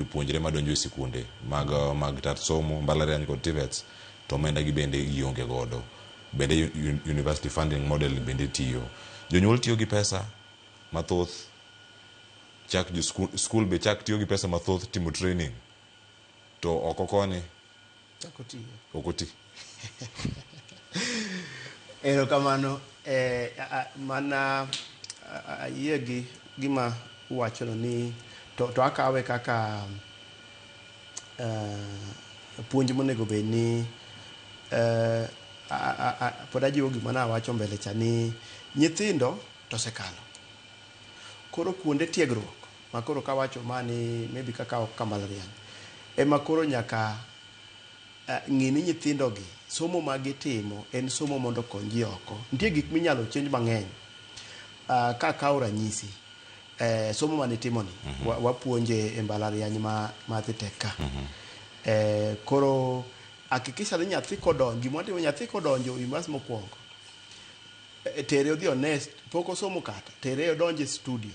jopuonjre madonjo e sikunde mag, mag tat somo, mbalariany kod TVETs, to omenda gi bende gionge godo. Bende university funding model bende tiyo. Jonyuol tiyo gi pesa mathoth chak school be chak tiyo gi pesa mathoth timo training to oko koni Chako tiyo. ok oti Erokamano eh, a- a- mana a- a- ayie gi gima uwachono ni to, to akawe kaka eh, puonj monego bed ni eh, a- a- a- pod ajiwo gima nawacho mbele cha ni nyithindo to osekalo koro kuonde tiegruok Ma koro kawacho ma ni maybe kaka ok ka mbalariany ema koro nyaka ng'i ni nyithindo gi somo ma gitimo en somo mondo okony ji oko. Nitie gik minyalo change mang'eny. Ka akawo ranyisi, somo mane itimo ni wapuonje e mbalariany ma Thi Tech ka. Koro hakikisha ni nyathi kodonjo, gima watimo nyathi kodonjo University mokuongo, tere odhi one, pok osomo kata, tere odonj e studio.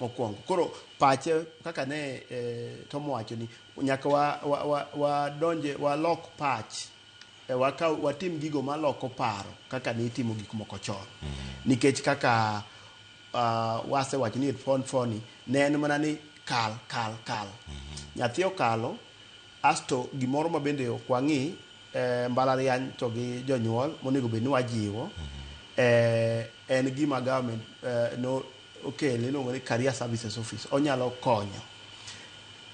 mokwongo. Koro pache kaka ne eh, Tom wacho ni nyaka wa, wa, wa, wadonje walok pach e, waka, watim gigo maloko paro kaka ne itimo gik moko chon nikech kaka uh, wasewacho ni fon foni ne en mana ni kal kal kal nyathi okalo asto gimoro ma bende ok wang'i eh, mbalariany to gi jonyuol monego bed ni wajiwo eh, en gima government eh, no okel iluongo ni career services office onyalo konyo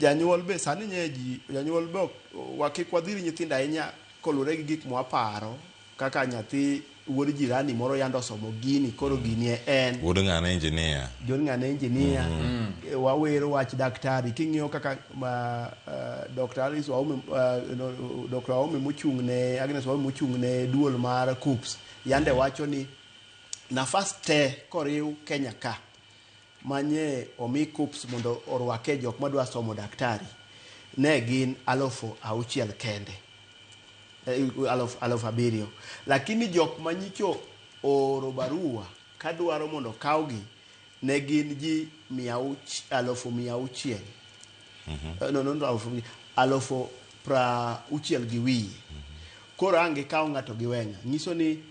janyuol be sani nye ji janyuol be wakik wadhiri nyithindo ahinya kolure gi gik mwaparo kaka nyathi wuod jirani moro yando osomo gini koro gini e en wuod ng'ane injinia wuod ng'ane injinia mm -hmm. wawero wach daktari king'iyo kaka ma, uh, dr alice waume uh, no, dr waume mochung' ne agnes waume mochung' ne duol mar coops yande wacho ni nafas te koriw Kenya ka manye omi KUPS mondo orwake jok madwa somo daktari ne gin alufu auchiel kende eh, alufu aluf abiriyo lakini jok manyicho ooro barua kadwaro mondo kawgi ne gin ji mia alufu mia auchiel mm -hmm. no, no, no, alufu, alufu pra uchiel gi wiye mm -hmm. koro ange kawo ng'ato gi weng'a nyiso ni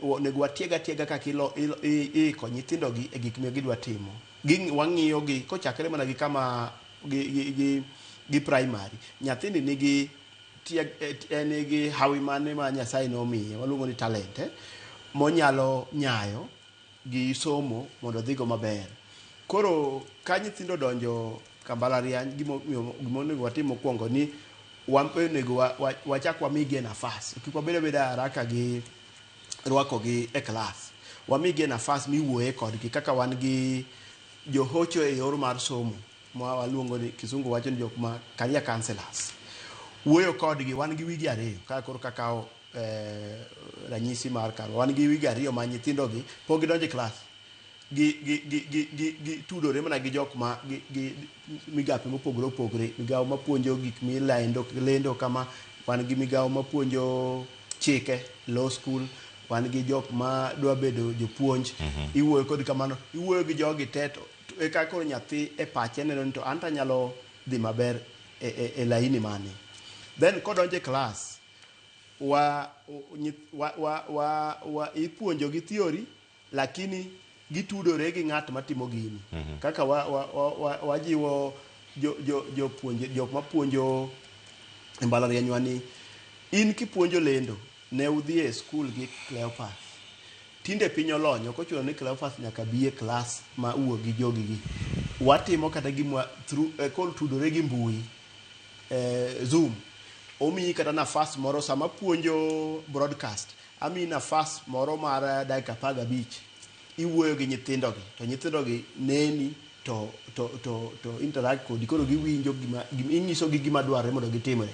onego watieg atiega kaka iiko nyithindogi e gik ma gidwa timo. Wang'iyogi kochakre mana gi kama gi praimari. Nyathini nigi hawi mane ma Nyasaye nomiye, waluongo ni talente monyalo nyayo. gi somo mondo odhigo maber. Koro ka nyithindo odonjo ka mbalariany gima onego watim mokuongo ni onego wachak wamigi nafas. Kik wabed abeda e haraka gi rwakogi e klas. Wamigi nafas miwuoye kodgi kaka wan gi johocho e yor mar somo ma waluongo ni kisungu wacho ni jok ma career counsellors. Wuoyo kodgi wan gi wige ariyo ka koro ka kawo eh, ranyisi mar kar wan gi wigi ariyo ma nyithindogi pok gidonjo e klas gi- gi- gi- gi- gi- gitudore mana gi jok ma gi- gi- migape mopogore opogore migawo mapuonjo gik milendo lendo kama wan gi migawo mapuonjo chike law school wan gi jok ma dwa bedo jopuonj iwuoyo kod kamano iwuoyo gi jogi te to to e ka koro nyathi e pache neno ni to an to anyalo dhi maber e, e, e laini mane then kodonjo e klas wa, wa, wa, wa, wa ipuonjogi theory lakini gitudore gi ng'at matimo gini mm -hmm. kaka wajiwo wa, wa, wa jo, jo, jo puonje, jok mapuonjo e mbalarianywa ni in kipuonjo lendo ne udhi e skul gi Cleopas tinde piny olony ok ochuno ni Cleopas nyaka bi e klas ma uwo gi jogigi watimo kata gimwa through, uh, eh, kol tudore gi mbui eh, zoom omiyi kata nafas moro sama puonjo broadcast amiyi nafas moro mar eh, dakika apar gabich iwuoyo gi nyithindogi to nyithindogi neni to, to, to, to interact kodi koro giwinjo gima, gima inyisogi gima dwarre mondo gitimre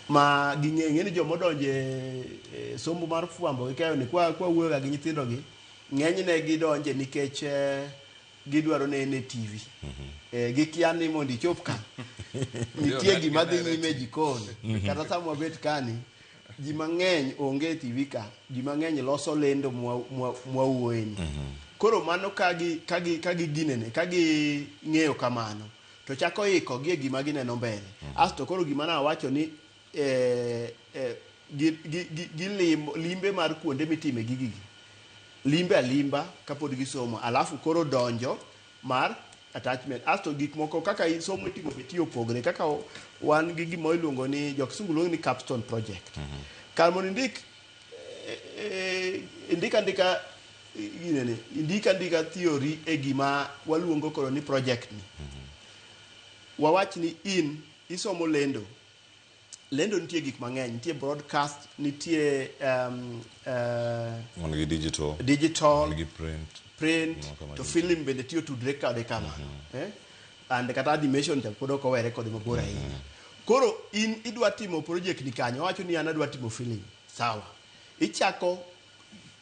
ma ging'e ng'e ni joma odonjo e e somo mar fwambo gi keyo ni kwa kwa wuoyoga gi nyithindogi ng'enyne gidonje nikech eh, gidwaro nene e TV. Eh, gikia ni mondo ichop ka nitie gima dhi nyime e jikon kata sama wabet kani ji mang'eny onge e TV ka ji mang'eny loso lendo mwa- mwa- mwawuoyeni koro mano ka gi- ka gi- ka giginene ka ging'eyo kamano to chako ikogi e gima gineno mbele asto koro gima nawacho ni gilimo limbe mar kuonde mitime gigi limbe alimba kapod gisomo alafu koro donjo mar attachment asto gik moko kaka somo itimo be tiyo opogre kaka wan gi gima iluongo ni jokisungu luongo ni capstone project mm -hmm. kar mondo indik eh, eh, indik andika ginene indik andika theory e gima waluongo koro ni project ni mm -hmm. wawach ni in isomo lendo Lendo nitie gik mang'eny, nitie broadcast, nitie um, uh, wan gi digital digital wan gi print print Mano kama to gin- film bende tiyo tudre kode kamano eh? and kata animation cha pod ok owere kode mabor ahinya koro in idwa timo project ni kanyo wacho ni an adwa timo film sawa ichako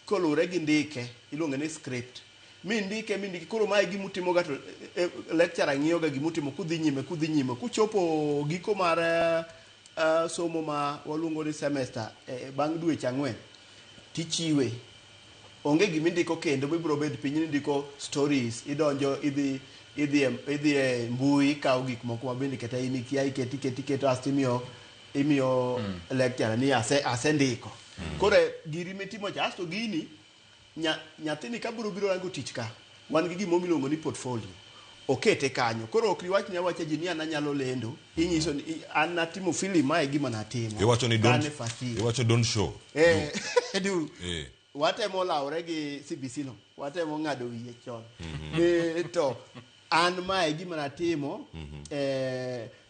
koluwre gi ndike iluonge ni script mi ndike mi ndike koro mae gima utimoga to e, e, lecturer ng'iyoga gima utimo kudhi nyime kudhi nyime kuchopo giko mar eh, eh, somo ma waluongo ni semester eh, bang' dweche ang'wen tichiwe onge gima indiko kendo mibiro bed piny ni ndiko stories idonjo idhi idhi e- idhi e mbui ikawo gik moko ma bende kata in ikia iketi iketi iketo asto imiyo imiyo lecturer ni ase asendiko koro giri mitimo cha asto gini Nya, nyathini ka biro biro rango tich ka, wan gi gimoro miluongo ni portfolio. Okete kanyo. Koro ok iwach ni awacha ji ni an anyalo lendo, inyiso ni i- an natimo film ma e gima natimo. Iwacho ni don't, Kane first year. iwacho don't show. Eh, du. Eh. Watemo lawre gi CBC no. Watemo ng'ado wiye chon. Eh, to an ma e gima natimo. Eh,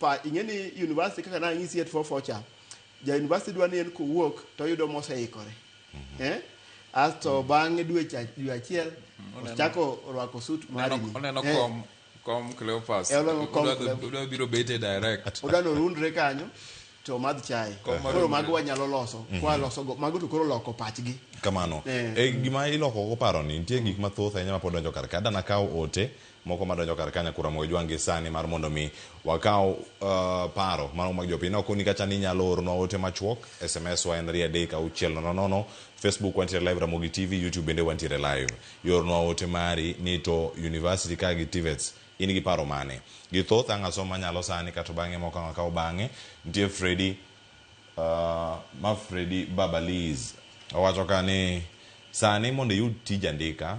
pa ing'e ni university kaka nang'isi at fofa cha ja university dwa ni en kowuok to oyudo moseikore mm-hmm. eh? asto mm-hmm. bang'e dwe dwe achiel mm-hmm. ochako rwako suit marini oneno eh. kom kom cleopas eh, odwa biro bete direct odwa norundre kanyo to madh chai koro mago wanyalo loso kwa loso mago to koro loko pachgi kamano e gima iloko go paro ni nitie gik mathoth ahinya mapod donjo kar ka dana kawo ote moko madonjo kar ka nyakura mogo jwang' gi sani mar mondo mi wakaw uh, paro mano mag jopiny na okoni kacha ni nyalo oronwa ote machuok sms wa en rie adek auchiel nono nono facebook wantiere live ramogi tv youtube bende wantiere live yornwa ote mari ni to university ka gi tivets in gi paro mane gi thoth ang' asom manyalo sani kato bang'e moko ang' akaw bang'e nitie fredi uh, ma fredi babaliz owacho ka ni sani mondo iyud tij andika